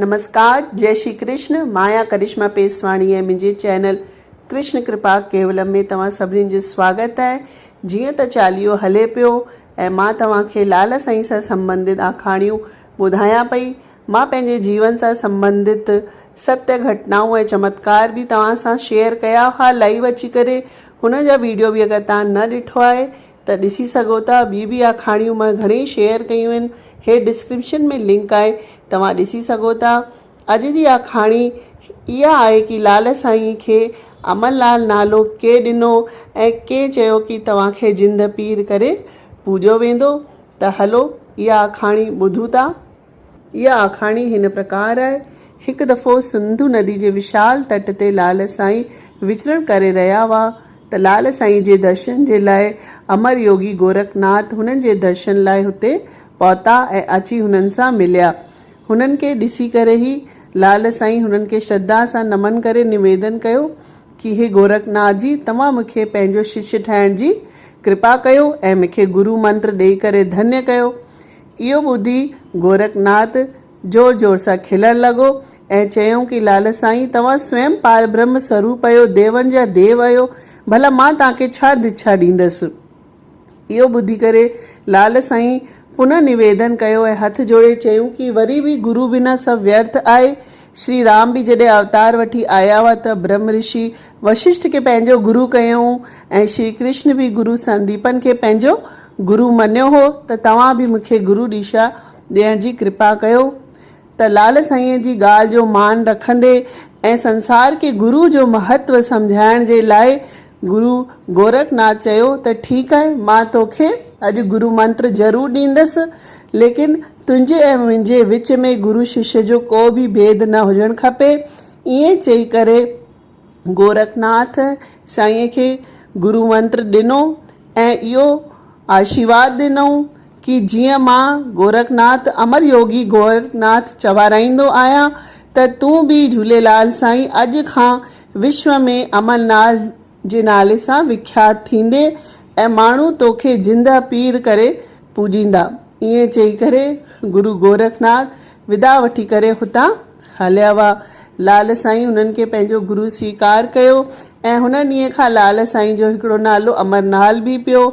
نمسڪار جئي شري ڪرشن مايا ڪرشما پيسواڻي ۽ منهنجي چينل ڪرشن ڪرپا ڪيولم ۾ توهان سڀني جو سواگت آهي جيئن ته چاليهو هلي پيو ۽ مان توهان کي لال سائين سان سمبنڌت آکاڻيون ٻڌايان پئي مان پنهنجي جيون سان سمبنڌت ستيه گهٽنائون ۽ چمتڪار به توهان سان شيئر ڪيا ها لائيو اچي ڪري هن جا ويڊيو به اگر توهان نه ڏٺو آهي ته ڏسي سگهو ٿا ٻي به آکاڻيون مان گهڻي شيئر ڪيون آهن هيٺ ڊسڪرپشن ۾ لنڪ آهي توهان ڏسي سگهو ٿا اڄ جي آکاڻي اها آهي ڪي لال سائين کي امن لال نالو ڪي ڏنو ۽ ڪي چيو ڪي توهان کي جند پير ڪري پوڄيو ويندو ته هلو اها آکاڻي ٻڌون ٿا اها آکاڻي هن پرڪار آهي، هڪ دفعو سنڌو ندي جي وشال تٽ تي لعل سائين وچرڻ ڪري رهيا هئا ته لعل سائين جي درشن جي لاء امر يوگي گورکناٿ هنن جي درشن لاء هتي پهتا ۽ اچي هنن سان مليا. هنن کي ڏسي ڪري هي لعل سائين هنن کي شرڌا سان نمن ڪري نويدن ڪيو ڪي هي گورکناٿ جي توهان مونکي پنهنجو ششيه ٺاهڻ جي ڪرپا ڪيو ۽ مونکي گرو منتر ڏئي ڪري ڌنيه ڪيو. اهو ٻڌي گورکناٿ زور زور سان کلڻ لڳو ۽ چيائون ڪي لال سائين توهان سوئم پار برهم سروپ اهيو ديون جا ديو اهيو ڀلا مان توهان کي ڇا دڇا ڏيندس اهو ٻڌي ڪري لال سائين پنه نويدن ڪيو ۽ هٿ جوڙي چيائون ڪي وري به گرو بنا سڀ ويرٿ آهي شري رام به جڏهن اوتار وٺي آيا هئا ته برهم رشي وششٽ کي پنهنجو گرو ڪيائون ۽ شري ڪرشن به گرو سنديپن کي پنهنجو گرو مڃيو هو ته توهان به مون کي گرو ڏيشا ڏيڻ جي ڪرپا ڪيو ته لعل سائينء جي ڳالهه جو مان رکندي ۽ سنسار کي گرو جو مهتو سمجهائڻ جي لاء گرو گورکناٿ چيو ته ٺيڪ آهي مان توکي اڄ گرو منتر ضرور ڏيندس ليڪن تنهنجي ۽ منهنجي وچ ۾ گرو ششيه جو ڪو به ڀيد نه هجڻ کپي ائين چئي ڪري گورکناٿ سائينء کي گرو منتر ڏنو ۽ اهو آشيرواد ڏنائون ڪي جيئن مان گورکناٿ امر يوگي گورکناٿ چوارائيندو آهيان ته تون به جهوليلال سائين اڄ کان وشو ۾ امرناٿ جي نالي سان وکيات ٿيندي ۽ ماڻهو توکي جندء پير ڪري پوڄيندا. ائين چئي ڪري گرو گورکناٿ ودا وٺي ڪري هتان هليا ويا. لعل سائين انهن کي پنهنجو گرو سويڪار ڪيو ۽ هن ڏينهن کان لعل سائين جو هڪڙو نالو امر نال به پيو.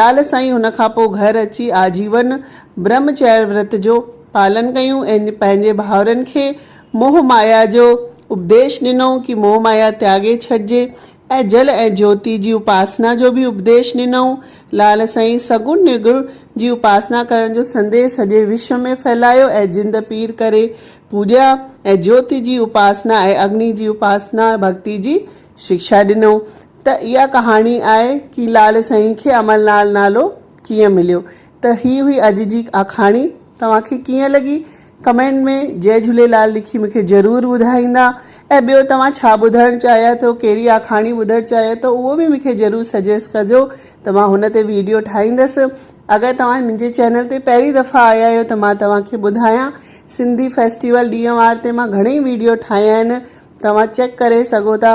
لعل سائين ان کان پوء گهر اچي آجيون برهم چريا ورت جو پالن ڪيون ۽ پنهنجي ڀائرن کي موهه مايا جو اپديش ڏنو ڪي موهه مايا تياڳي ڇڏجي ۽ جل ۽ جيوتي جي اپاسنا جو به اپديش ڏنائون. لعل سائين سگن نرگن جي اپاسنا ڪرڻ جو سنديس سڄي وشو ۾ ڦهلايو ۽ جند پير ڪري پوڄيا ۽ جيوتي جي اپاسنا ۽ اگني جي اپاسنا ڀڳتي جي شڪشا ڏنائون ته اها ڪهاڻي آهي ڪي لعل سائين کي امل لعل نالو ڪيئن مليو ته هي هئي اڄ جي آکاڻي توهان کي ڪيئن لڳي ڪمينٽ ۾ جئي جهوليلال لکي مونکي ضرور ٻڌائيندا ۽ ٻيو توهان ڇا ٻڌڻ چاهيا ٿو ڪهڙي آکاڻي ٻڌڻ چاهيا ٿو اهو به مونکي ضرور سجيس ڪجو ته مان هن تي ويڊيو ٺاهيندس اگر توهان منهنجي چينل تي پهرين دفعا آيا آهيو ته مان توهان کي ٻڌايان سنڌي فيسٽيول ڏينهن وار تي مان گهڻي ويڊيو ٺاهيا آهن توهان چيڪ ڪري سگهو ٿا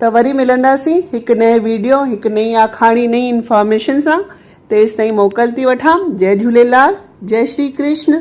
ته وري ملنداسين هڪ نئين ويڊيو هڪ نئين آکاڻي نئين انفارميشن سان تيستائين موڪل ٿي وٺان جئي جهوليلال جئي شري ڪرشن